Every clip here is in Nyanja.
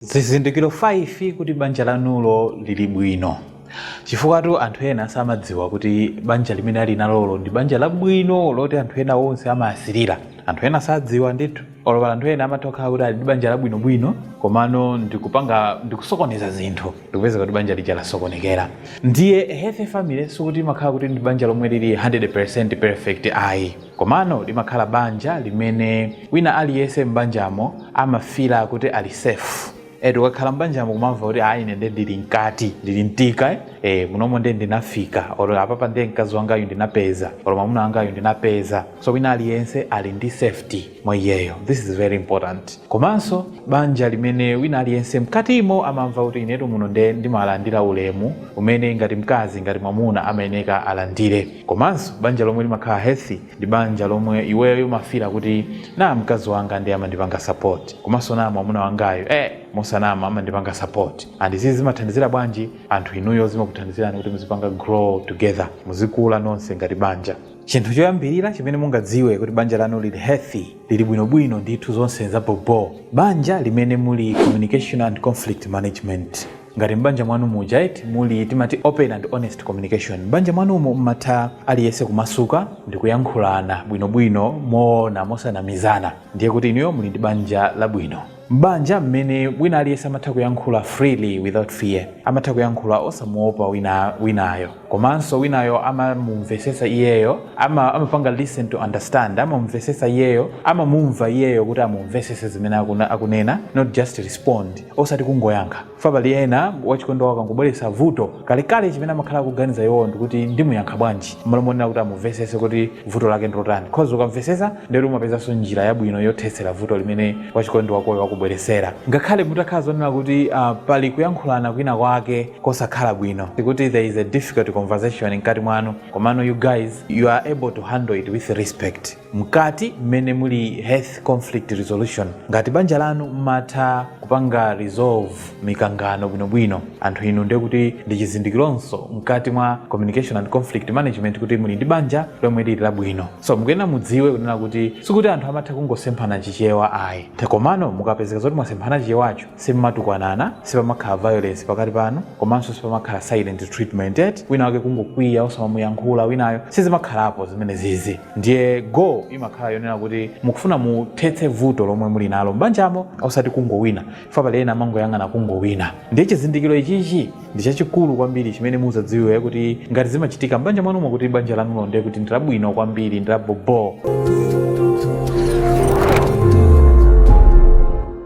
zizindikiro 5 kuti banja lanulo lili bwino chifukwatu anthu ena samadziwa kuti banja limene ali nalolo ndi banja labwino loti anthu ena onse amalisirira anthu ena sadziwa ndithu olo pali anthu ena amatha kukhala kuti ali ndi banja labwinobwino komano ndikusokoneza zinthu ndikupeza kuti banja lija lasokonekera ndiye healthy family sikuti imakhala kuti ndi banja lomwe lili 100 perfect ayi Komano limakhala banja limene wina aliyense m'banjamo amafila kuti ali safe. Eti ukakhala m'banjamo kumamva kuti ayi ine nde ndili mkati, ndili m'thicker eh, eh munomo nde ndinafika or apapa nde mkazi wangayu ndinapeza or mwamuna wangayu ndinapeza. So wina aliyense ali ndi safety mwa iyeyo, this is very important. Komanso banja limene wina aliyense mkatimo amamva kuti inetu muno nde ndimalandira ulemu umene ngati mkazi ngati mwamuna amayeneka alandire. Komanso banja lomwe limakhala healthy ndi banja lomwe iweyo umafila kuti naa mkazi wanga nde amandipanga support komanso naa mwamuna wangayu eeh mosanama amandipanga support and izizi zimathandizira bwanji anthu inuyo zimakuthandizirani kuti muzipanga grow together muzikula nonse ngati banja. chinthu choyambirira chimene mungadziwe kuti banja lanu lili healthy lili bwinobwino ndithu zonse za bobo banja limene muli communication and conflict management ngati m'banja mwanu muja eti muli timati open and honest communication m'banja mwanumo mmatha aliyense kumasuka ndi kuyankhulana bwinobwino moona mosanamizana ndiye kuti inuyo muli ndi banja labwino M'banja mmene wina aliyense amatha kuyankhula freely without fear, amatha kuyankhula osamuopa winayo, komanso winayo amamumvesetsa iyeyo, amapanga listen to understand, amamumvesetsa iyeyo, amamumva iyeyo kuti amumvesese zimene akunena not just respond osati kungoyankha. chifukwa pali ena wachikondi wawo akangobweretsa vuto kalekale chimene amakhala akuganiza iwowo ndikuti ndimuyankha bwanji mmalo monena kuti amumvesese kuti vuto lake ndilotani coz ukamvesesa ndiye kuti umapezanso njira yabwino yothetsera vuto limene wachikondi wakoyo wakubweresera ngakhale mutakhala zonena kuti uh, pali kuyankhulana kwina kwake kosakhala bwino kuti there is a difficult conversation mkati mwanu komano you guys you are able to handle it with respect mkati mmene muli health conflict resolution ngati banja lanu mmatha kupanga resolve mikangano bwinobwino anthu inu ndiye kuti ndi chizindikironso mkati mwa communication and conflict management kuti muli ndi banja lomwe lili labwino so mukuyenera mudziwe kunena kuti sikuti anthu amatha kungosemphana chichewa ayi eti komano mukapezeka zoti mwasemphana chichewacho simumatukwanana sipamakhala violence pakati panu komanso sipamakhala silent treatment eti wina wake kungokwiya osamamuyankhula winayo sizimakhalapo zimene zizi ndiye goal imakhala yonena kuti mukufuna muthetse vuto lomwe muli nalo m'banjamo osati kungowina fa pali ena amangoyang'ana kungowina ndiye chizindikiro ichichi ndi chachikulu kwambiri chimene muzadziwe kuti ngati zimachitika m'banja mwanumo kuti banja lanulo ndiye kuti ndilabwino kwambiri ndilaboboo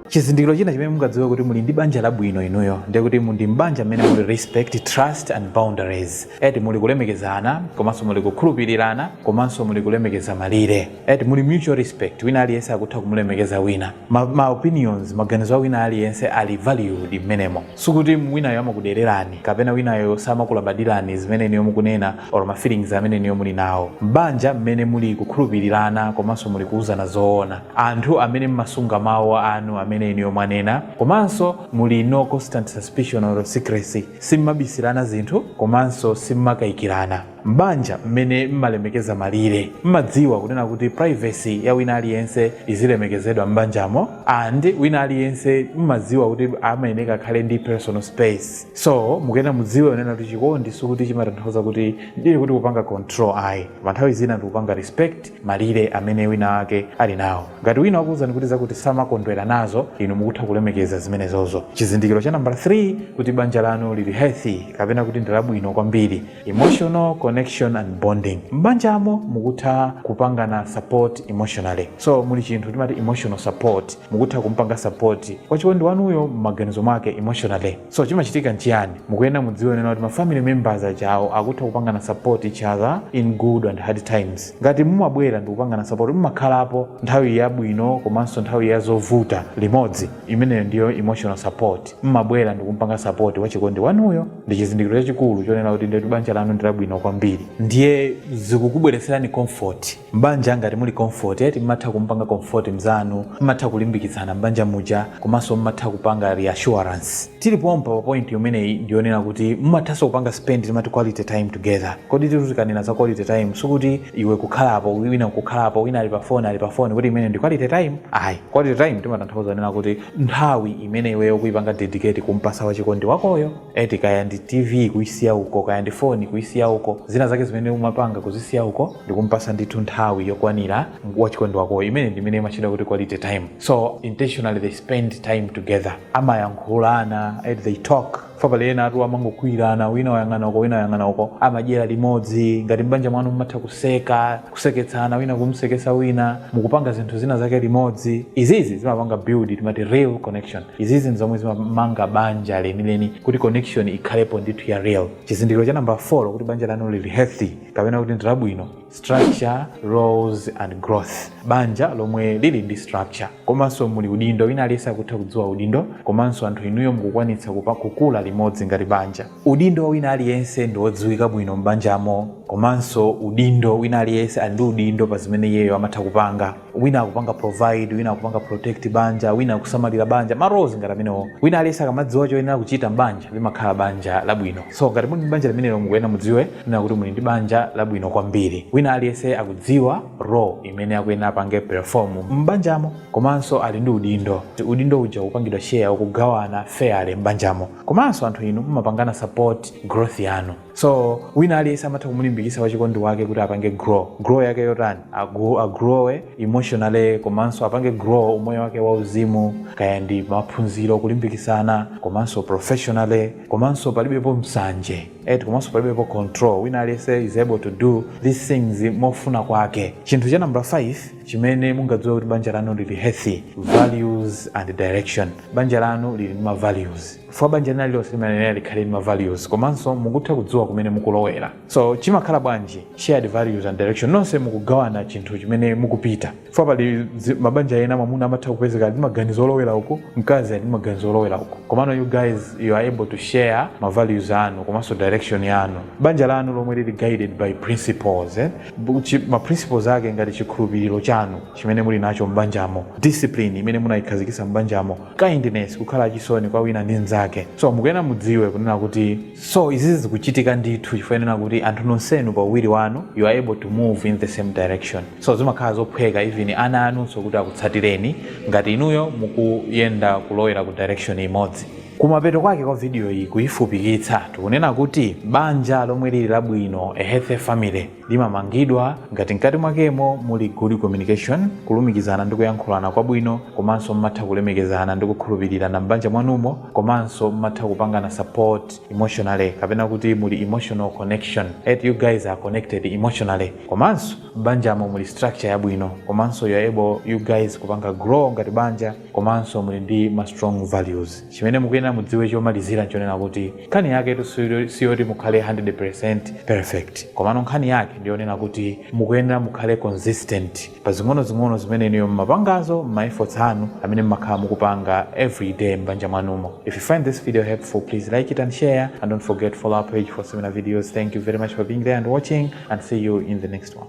chizindikiro china chimene mungadziwe kuti muli ndi banja labwino inuyo ndiye kuti mu ndi mbanja mmene muli respect trust and boundaries eti muli kulemekezana komanso muli kukhulupirirana komanso muli kulemekeza malire eti muli mutual respect wina aliyense akutha kumulemekeza wina ma, ma opinions maganizo a wina aliyense ali valued mmenemo sikuti winayo amakudererani kapena winayo samakulabadirani zimene inuyo mukunena or ma feelings amene inuyo muli nawo m'banja mmene muli kukhulupirirana komanso muli kuuzana zoona anthu amene mmasunga mawu anu amene inuyo mwanena komanso muli no constant suspicion or secrecy Sim'mabisirana zinthu komanso sim'makayikirana. M'banja mmene m'malemekeza malire, m'madziwa kunena kuti privacy ya wina aliyense izilemekezedwa m'banjamo and wina aliyense m'madziwa kuti amayeneka akhale ndi personal space. So, mukuyenera mudziwe kunena kuti chikondi sikuti chimatanthauza kuti ndiye kuti kupanga control ayi. Koma nthawi zina ndikupanga respect. malire amene winawake ali nawo. Ngati wina wakuuzani kuti zakuti samakondwera nazo, inu mukutha kulemekeza zimenezozo. Chizindikiro cha nambala 3 kuti banja lanu liri healthy kapena kuti ndi labwino kwambiri, emotional connection and bonding. M'banjamo mukutha kupangana support emotionally. So, muli chinthu timati emotional support. Mukutha kumpanga support wachikondi wanuyo m'maganizo mwake emotionally. so chimachitika nchiyani mukuyenera mudziwe kunena kuti ma family members ajawo akutha kupangana support each other in good and hard times ngati mumabwera ndi kupangana support mumakhalapo nthawi yabwino komanso nthawi ya zovuta limodzi imeneyo ndiyo emotional support mumabwera ndi kumpanga support wachikondi wanuyo ndi chizindikiro chachikulu chonena kuti ndetu banja lanu ndi labwino kwambiri ndiye zikukubweretserani comfort M'banja ngati muli comfort eti mmatha kumupanga comfort mzanu, mmatha kulimbikitsana m'banja muja komanso mmatha kupanga reassurance. Tili pompa pa point imeneyi ndi yonena kuti mumathanso kupanga spend timati quality time together. Koditu tikanena za quality time sikuti iwe kukhala apa wina nkukhala apa wina ali pa phone ali pa phone kuti imeneyo ndi quality time ayi. Quality time timatanthauza kunena kuti nthawi imene iweyo ukuyipanga dedicate kumpasa wachikondi wakoyo eti kaya ndi TV kuyisiya uko kaya ndi phone kuyisiya uko zina zake zimene umapanga kuzisiya uko. ndikumpasa ndithu nthawi yokwanira wachikondi wakoyo imene ndimene imatchedwa kuti quality time so intentionally they spend time together amayankhulana eh, they talk fa pali enatu amangokwiyirana wina wayang'ana uko wina wayang'ana uko amadyera limodzi ngati m'banja mwanu mumatha kuseka kuseketsana wina kumsekesa wina mukupanga zinthu zina zake limodzi izizi zimapanga build timati real connection izizi ndi zomwe zimamanga banja lenileni kuti connection ikhalepo ndithu ya real chizindikiro cha namba 4 kuti banja lanu lili healthy kapena kuti ndilabwino structure roles and growth banja lomwe lili ndi structure komanso muli udindo wina aliyense akutha kudziwa udindo komanso anthu inuyo mukukwanitsa kukula limodzi ngati banja udindo wina aliyense ndi wodziwika bwino m'banjamo komanso udindo wina aliyense ali ndi udindo pa zimene iyeyo amatha kupanga wina akupanga provide wina akupanga protect banja wina akusamalira banja ma roles ngati amenewo wina aliyense akamadziwa choyenera kuchita mbanja limakhala banja labwino so ngati muli ndi banja limenelo mukuyenera mudziwe nena kuti muli ndi banja labwino kwambiri wina aliyense akudziwa role imene akuyenera apange perform m'banjamo komanso ali ndi udindo udindo uja ukupangidwa share ukugawana fairly m'banjamo komanso anthu inu mumapangana support growth yanu So wina aliyese amatha kumulimbikisa wachikondi wake kuti apange grow. Grow yake yotani? Agu, agrowe emotionally komanso apange grow umoyo wake wa uzimu kaya ndi maphunziro kulimbikisana komanso professionally komanso palibepo msanje et komanso palibepo control wina aliyese is able to do these things mofuna kwake chinthu cha number 5 chimene mungadziwe kuti banja lanu lili healthy values and direction banja lanu lili ndi ma values chifukwa banja lina lililonse limayenera likhale ndi ma values komanso mukutha kudziwa kumene mukulowera so chimakhala bwanji shared values and direction nonse mukugawana chinthu chimene mukupita chifukwa pali zi- mabanja ena mwamuna amatha kupezeka ali ndi maganizo olowera uku mkazi ali ndi maganizo olowera uku komano you guys you are able to share ma values anu komanso direction yanu banja lanu lomwe lili guided by principles eh? Bu- chi- ma principles ake ngati chikhulupiriro chanu chimene muli nacho m'banjamo discipline imene munayikhazikitsa m'banjamo kindness kukhala achisoni kwa wina ndi mzake so mukuyena mudziwe kunena kuti so izizi zikuchitika ndithu chifukwa chonena kuti anthu nonsenu pa uwiri wanu you are able to move in the same direction so zimakhala zophweka even ana anunso kuti akutsatireni ngati inuyo mukuyenda kulowera ku direction imodzi kumapeto kwake kwa video iyi kuyifupikitsa tikunena kuti banja lomwe lili labwino a healthy family limamangidwa ngati mkati mwakemo muli good communication, kulumikizana ndi kuyankhulana kwabwino, komanso mmatha kulemekezana ndi kukhulupirirana m'banja mwanumo, komanso mmatha kupangana support emotionally kapena kuti muli emotional connection, et you guys are connected emotionally, komanso m'banjamo muli structure yabwino, komanso you're able you guys kupanga grow ngati banja, komanso muli ndi ma strong values. Chimene mukuyenera mudziwe chomalizira nchonena kuti nkhani yaketu siyoti mukhale 100% perfect, komano nkhani yake ndiyonena kuti mukuyenera mukhale consistent pa zing'onozing'ono zimene inuyo mmapangazo, mma efforts anu amene mmakhala mukupanga everyday m'banja mwanumo. If you find this video helpful, please like it and share, and don't forget to follow our page for similar videos. Thank you very much for being there and watching, and see you in the next one.